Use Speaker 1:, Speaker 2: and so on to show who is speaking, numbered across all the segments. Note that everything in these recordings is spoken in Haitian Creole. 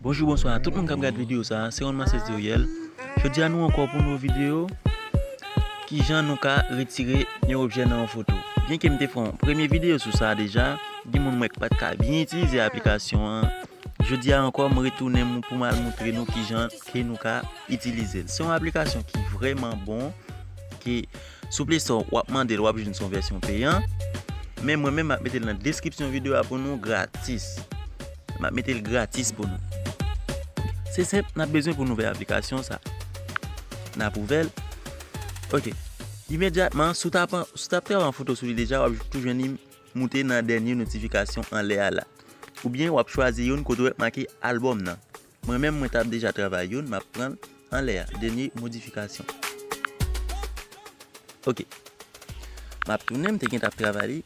Speaker 1: Bonjou bonswa a tout moun kap gad video sa se Ronman Seziriel jodi a nou ankò pou nouvo video kijan nou ka retire yon objè nan yon foto byen ke m te fè yon premye video sou sa deja gen moun m wè k pat ka byen itilize aplikasyon an jodi a ankò m retounen pou m al moutre nou kijan ke nou ka itilize l se yon aplikasyon ki vreman bon ki Sou play store wap mandel wap jwenn son vèsyon peyan men mwen menm map metel nan deskripsyon video a pou nou gratis map metel gratis pou nou se senp nap bezwen pou nou ouvè aplikasyon sa nap ouvèl ok imedyatman sou tap pran yon foto sou li deja wap tou jwenn li moute nan dènye notifikasyon anlè a la oubyen wap chwazi youn kote ou wè make album nan Mwen menm mwen tap deja travay youn map pranl anlè a dènye modifikasyon ok map tounen mte gentan ap travay li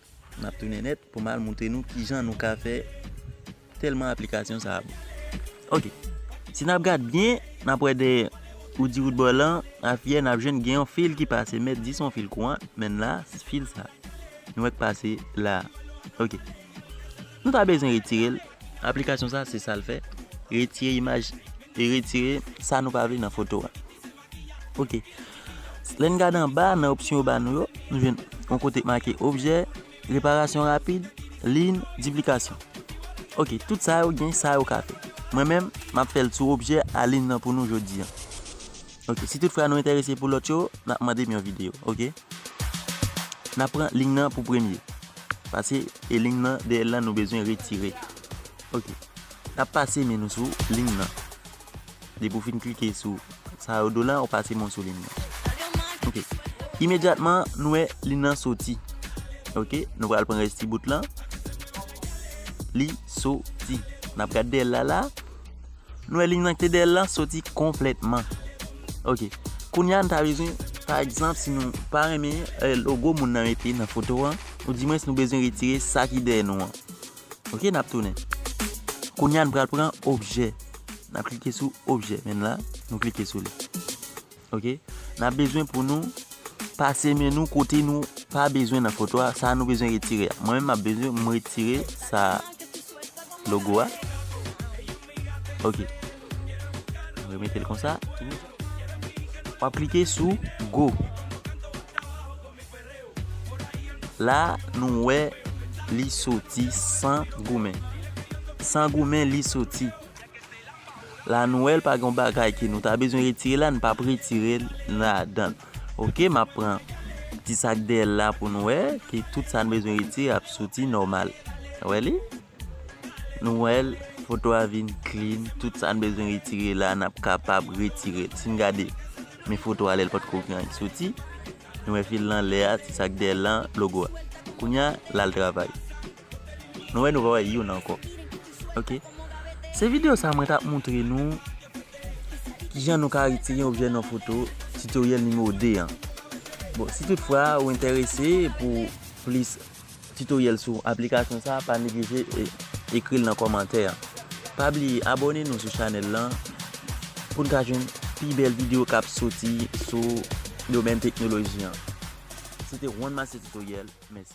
Speaker 1: map tounen nèt pou mal moutre nou kijan nou ka fè tèlman aplikasyon sa bon ok si nap gad byen nap wè dèyè oudi roudbò lan afiyè nap jwenn gen yon fil ki pase mèt di son fil kouran menn la fil sa nou wè k pase la ok. Nou ta bezwen retire l. Aplikasyon sa se sa l fè, retire imaj e retire sa nou pa vle nan foto a. Ok. Lè n gade anba nan opsyon yo ba nou yo, nou jwenn yon kote k make objè, reparasyon rapid, lin, diplikasyon. Ok, tout sa yo gen sa yo ka fè. Mwen menm, m ap fè l sou objè a lin nan pou nou jodi an. Ok si tout fra nou entèrese pou lòt yo nap mandem yon video ok nap pran lign nan pou premye pase e lign nan dèyèl lan nou bezwen retire ok nap pase men nou sou lign nan depi ou fin klike sou sa yo do lan ou pase men ou sou lign nan ok imedyatman nou wè lign nan soti ok nou pral pran rès ti bout lan li soti nap gad dèyèl la la. Nou wè liy nan ki te dèyèl lan soti konplètman ok kounya nou ta bezwen pa egzanp si nou pa renmen logo moun nan mete nan foto an ou di mwens nou bezwen retire sa ki dèyè nou an ok nap tounen kounya nou pral pran objè nap klike sou objè menm la nou klike sou li. Ok nap bezwen pou nou pase men nou kote nou pa bezwen nan foto a sa nou bezwen retire a mwen menm map bezwen m retire sa logo a ok mwen mete l konsa wap klike sou go la nou wè li soti san goumen san goumen li soti. La nou wèl pa gon bagay ke nou ta bezwen retire la nou pap retirel ladann ok map pran ti sak dèyèl la pou nou wè ke tout sa nou bezwen retire ap soti nòmal nou wè li nou wèl foto a vin klin tout sa nou bezwen retire la nap kapab retirel sin gade men foto a lèl pat ko gen anyen ki soti nou wè fil lan lè a ti sak dèyèl lan logo a kounya lal travay. Nou wè nou pa wè youn ankò ok se video sa mwen tap montre nou kijan nou ka retire objè nan foto tutoriel numéro 2 an bon si tout fwa ou entèrese pou plis tutoriel sou aplikasyon sa pa neglije ekril nan kòmantè an pa bliye abòne nou sou chanèl lan poun ka jwenn pi bèl video kap soti sou domèn teknoloji an se te Ronmaster tutoriel mèsi.